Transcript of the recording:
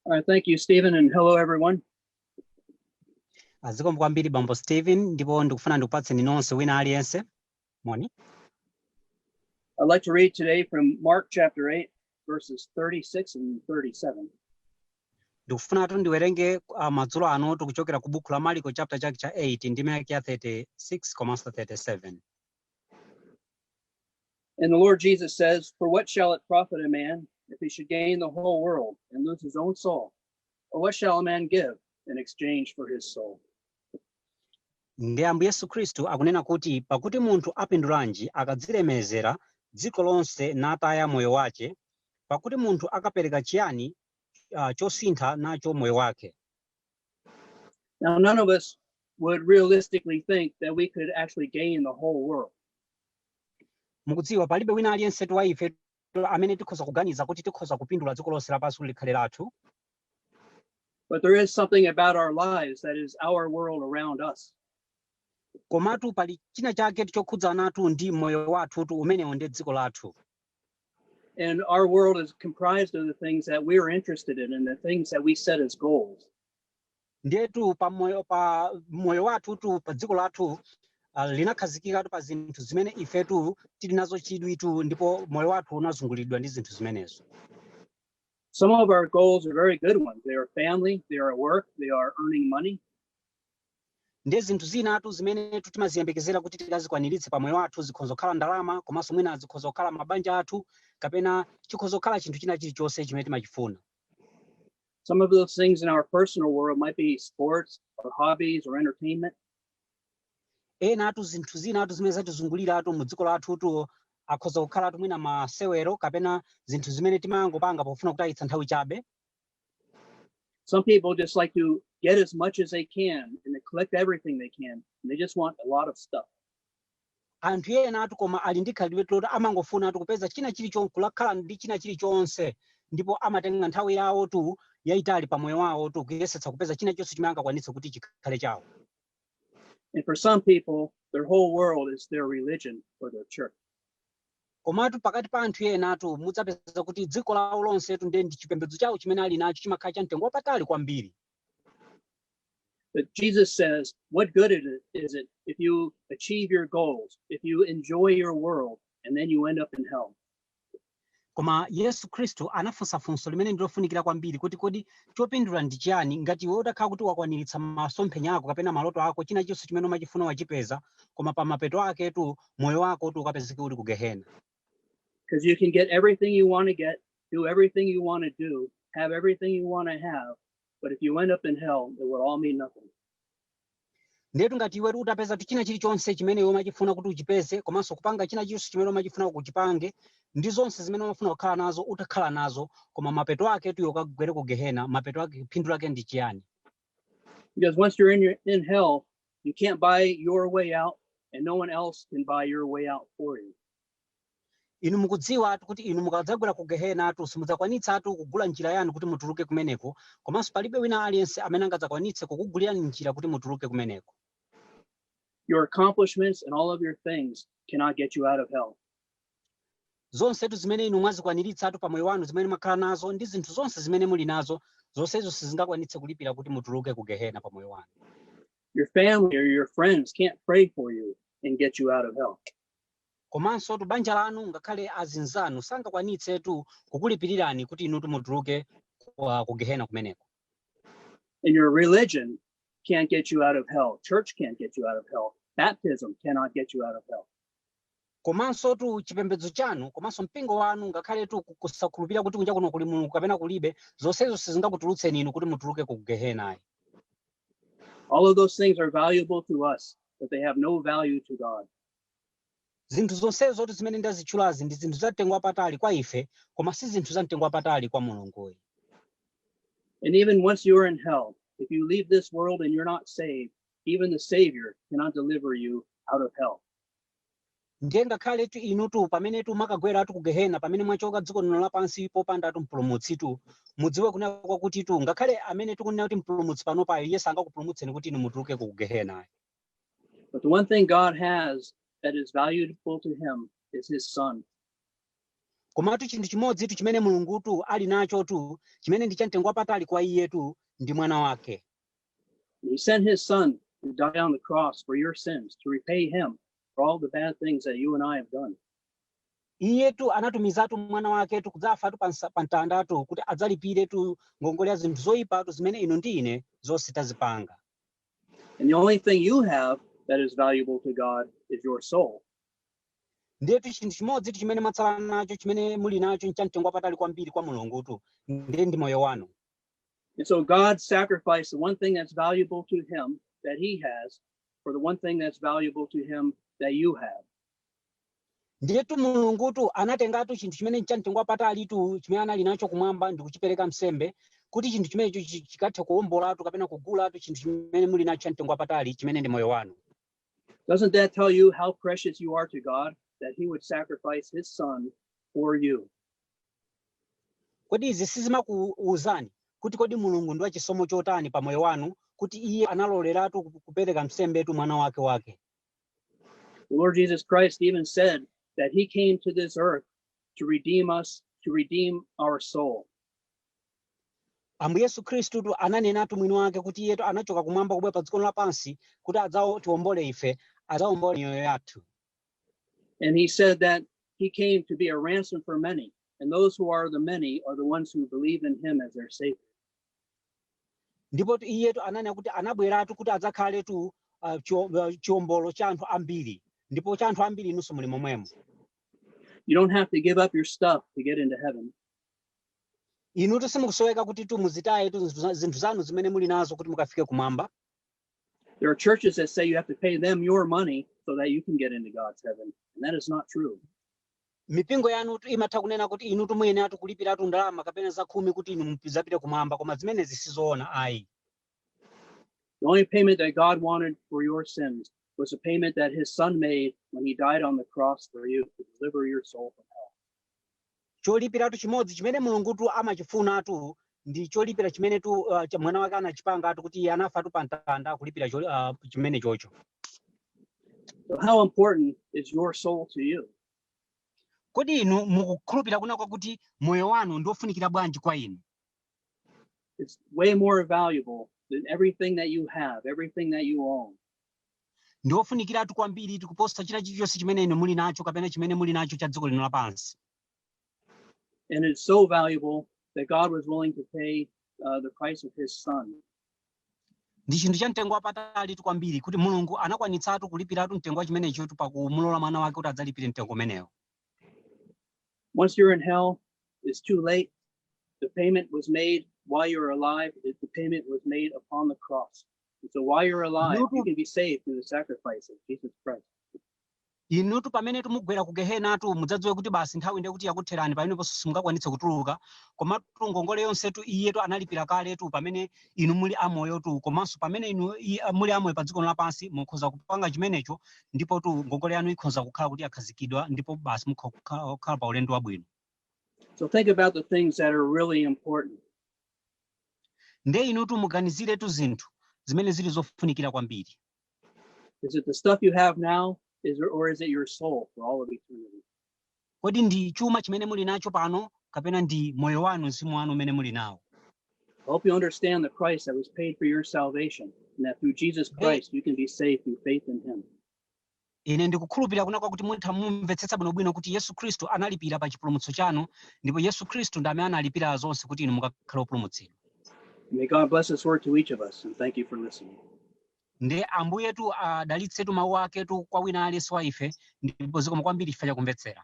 All right, thank you, Stephen, and hello, everyone. Ah, Zikomo kwambiri bambo Stephen ndipo ndikufuna ndikupatseni nonse wina aliyense moni. I'd like to read today from Mark chapter 8, verses 36 and 37. Ndikufunatu ndiwerenge ah, madzulo anotu kuchokera ku buku la Marko chapter chake cha 8 ndime yake ya 36 komanso 37. And the Lord Jesus says, For what shall it profit a man if he should gain the whole world and lose his own soul? Or what shall a man give in exchange for his soul? ndi ambuye yesu khristu akunena kuti pakuti munthu apindulanji akadzilemezera dziko lonse nataya moyo wace pakuti munthu akapereka chiyani uh, chosintha nacho moyo wake Now, none of us would realistically think that we could actually gain the whole world. mukudziwa palibe wina aliyense wa ife amene tikhoza kuganiza kuti tikhoza kupindula dziko lonse lapansi kuti likhale lathu But there is something about our lives that is our world around us. komatu pali china chake chokhudzanatu ndi moyo wathutu umenewo ndi dziko lathu And our world is comprised of the things that we're interested in and the things that we set as goals. ndetu pa moyo pa moyo wathutu pa dziko lathu ah, linakhazikikatu pa zinthu zimene ifetu tili nazo chidwitu ndipo moyo wathu unazungulidwa ndi zinthu zimenezo Some of our goals are very good ones. They are family, they are work, they are earning money. Ndiye zinthu zinatu zimenetu timaziyembekezera kuti tikazikwaniritse pa moyo wathu zikhonza kukhala ndalama komanso mwina zikhoza kukhala mabanja athu kapena chikhoza kukhala chinthu china chilichonse chimene timachifuna. Some of those things in our personal world might be sports or hobbies or entertainment. Enatu zinthu zinatu zimene zatizunguliratu mu dziko lathutu akhoza kukhalatu mwina masewero kapena zinthu zimene timangopanga pofuna kutayitsa nthawi chabe. Some people just like to get as much as they can and they collect everything they can. And they just want a lot of stuff. anthu enatu koma ali ndi khalidwe loti amangofunatu kupeza china chilichonse kulakhala ndi china chilichonse ndipo amatenga nthawi yawotu yayitali pa moyo wawotu kuyesetsa kupeza china chonse chimene angakwanitse kuti chikhale chawo And for some people, their whole world is their religion or their church. komatu pakati pa anthu enatu mudzapeza kuti dziko lawo lonsetu ndiye ndi chipembedzo chawo chimene ali nacho chimakhala cha mtengo wapatali kwambiri But Jesus says, what good it is is it if you achieve your goals, if you enjoy your world, and then you end up in hell? Koma Yesu Kristu anafunsa funso limene ndi lofunikira kwambiri kuti, Kodi chopindula ndi chiyani ngati iwe utakhala kuti wakwaniritsa masomphenya ako kapena maloto ako, china chilichonse chimene umachifuna wachipeza, koma pa mapeto aketu moyo wako ukapezeke uli ku Gehena? Because you can get everything you want to get, do everything you want to do, have everything you want to have, but if you end up in hell, it would all mean nothing. Ndiyetu ngati iwetu utapezatu china chilichonse chimene iwe umachifuna kuti uchipeze komanso kupanga china chilichonse chimene umachifuna kuti uchipange ndi zonse zimene umafuna kukhala nazo utakhala nazo, koma mapeto aketu iwe ukagwere ku Gehena, mapeto ake phindu lake ndi chiyani? Because once you're in hell, you can't buy your way out, and no one else can buy your way out for you. Inu mukudziwatu kuti inu mukadzagwera ku gehenatu simudzakwanitsatu kugula njira yanu kuti mutuluke kumeneko, komanso palibe wina aliyense amene angadzakwanitse kukugulirani njira kuti mutuluke kumeneko. Your accomplishments and all of your things cannot get you out of hell. Zonsetu zimene inu mwazikwaniritsatu pa moyo wanu zimene mwakhala nazo ndi zinthu zonse zimene muli nazo zonsezo sizingakwanitse kulipira kuti mutuluke ku gehena pa moyo wanu. Your family or your friends can't pray for you and get you out of hell. Komansotu banja lanu ngakhale azinzanu sangakwanitsetu kukulipirirani kuti inutu mutuluke ku, ah, ku Gehena kumeneko. And your religion can't get you out of hell. Church can't get you out of hell. Baptism cannot get you out of hell. Komansotu chipembedzo chanu komanso mpingo wanu ngakhaletu ku- kusakhulupirira kuti kunja kuno kuli Mulungu kapena kulibe, zonsezo sizingakutulutseni inu kuti mutuluke ku Gehena ayi. All of those things are valuable to us, but they have no value to God. Zinthu zonsezotu zimene ndazitchulazi ndi zinthu zamtengo wapatali kwa ife koma si zinthu zamtengo wapatali kwa Mulungu ayi. And even once you are in hell, if you leave this world and you're not saved, even the Savior cannot deliver you out of hell. ndiye ngakhaletu inutu pamenetu mwakagweratu ku gehena pamene mwachoka dziko lino lapansi popandatu mpulumutsitu mudziwe kunena kwakutitu ngakhale amene tikunena kuti mpulumutsi panopayo iye sangakupulumutseni kuti inu mutulukeko ku gehena But the one thing God has that is valuable to him is his son. komatu chinthu chimodzitu chimene mulungutu ali nachotu chimene ndi chamtengo wapatali kwa iyetu ndi mwana wake He sent his son to die on the cross for your sins to repay him for all the bad things that you and I have done. iyetu anatumizatu mwana waketu kudzafatu pa nsa- pa mtandatu kuti adzalipiretu ngongole ya zinthu zoyipatu zimene inu ndi ine zonse tazipanga And the only thing you have that is valuable to God is your soul. ndetu chinthu chimodzitu chimene mwatsala nacho chimene muli nacho nchamtengo wapatali kwambiri kwa mulungutu ndiye ndi moyo wanu And so God sacrificed the one thing that's valuable to him that he has for the one thing that's valuable to him that you have. ndiyetu mulungutu anatengatu chinthu chimene nchamtengo wapatalitu chimene anali nacho kumwamba ndi kuchipereka msembe kuti chinthu chimenecho chi- chikathe kuwombolatu kapena kugulatu chinthu chimene muli nacho chamtengo wapatali chimene ndi moyo wanu Doesn't that tell you how precious you are to God that He would sacrifice His Son for you? kodi izi sizimakuuzani kuti kodi mulungu ndi wachisomo chotani pa moyo wanu kuti iye analoleratu ku- kupereka msembetu mwana wake wake The Lord Jesus Christ even said that he came to this earth to redeem us, to redeem our soul. ambuye yesu khristutu ananenatu mwini wake kuti iyetu anachoka kumwamba kubwera pa dziko lino lapansi kuti adzatiwombole ife adzawombole miyoyo yathu And he said that he came to be a ransom for many, and those who are the many are the ones who believe in him as their savior. Ndipotu iyetu ananena kuti anabweratu kuti adzakhaletu uh, chio- uh, chiombolo cha anthu ambiri ndipo cha anthu ambiri inunso muli momwemo You don't have to give up your stuff to get into heaven. inutu simukusoweka kutitu muzitayetu zinthu za- zinthu zanu zimene muli nazo kuti mukafike kumwamba There are churches that say you have to pay them your money so that you can get into God's heaven. And that is not true. mipingo yanutu imatha kunena kuti inutu muyeneratu kulipiratu ndalama kapena zakhumi kuti inu mudzapite kumwamba koma zimenezi sizoona ayi The only payment that God wanted for your sins was the payment that his son made when he died on the cross for you to deliver your soul from hell. cholipiratu chimodzi chimene mulungutu amachifunatu ndi cholipira chimenetu uh, cha mwana wake anachipangatu kuti iye anafatu pa mtanda kulipira choli- ah, chimenechocho So, how important is your soul to you? kodi inu mukukhulupirira kunena kwakuti moyo wanu ndi wofunikira bwanji kwa inu It's way more valuable than everything that you have, everything that you own. ndi wofunikiratu kwambiritu kuposa china chilichonse chimene inu muli nacho kapena chimene muli nacho cha dziko lino lapansi And it's so valuable that God was willing to pay uh, the price of his son. ndi chinthu cha mtengo wapatalitu kwambiri kuti mulungu anakwanitsatu kulipiratu mtengo wa chimenechotu pakumulola mwana wake kuti adzalipire mtengo umenewo Once you're in hell, it's too late. The payment was made while you're alive. It- The payment was made upon the cross. And so while you're alive, you can be saved through the sacrifice of Jesus Christ. Inutu pamenetu mugwera ku Gehenatu mudzadziwe kuti basi nthawi ndiye kuti yakutherani pameneponso simungakwanitse kutuluka. Komatu ngongole yonsetu Iyetu analipira kaletu pamene inu muli amoyotu komanso pamene inu i- muli amoyo pa dziko lino lapansi mukhoza kupanga chimenecho ndipotu ngongole yanu ikhoza kukhala kuti yakhazikidwa ndipo basi mukukhala pa ulendo wabwino. So think about the things that are really important. Ndiye inutu muganiziretu zinthu zimene zili zofunikira kwambiri. Is it the stuff you have now? Or is it your soul for all of eternity? kodi ndi chuma chimene muli nacho pano kapena ndi moyo wanu mzimu wanu umene muli nawo I hope you understand the price that was paid for your salvation, and that through Jesus Christ you can be saved through faith in Him. Ine ndikukhulupirira kunena kwakuti mutha mumvetsetsa bwino bwino kuti Yesu Khristu analipira pa chipulumutso chanu, ndipo Yesu Khristu ndi amene analipira zonse kuti inu mukakhale opulumutsidwa. May God bless His word to each of us, and thank you for listening. Ndiye Ambuyetu adalitsetu mawu aketu kwa wina aliyense wa ife, ndipo zikomo kwambiri chifukwa chakumvetsera.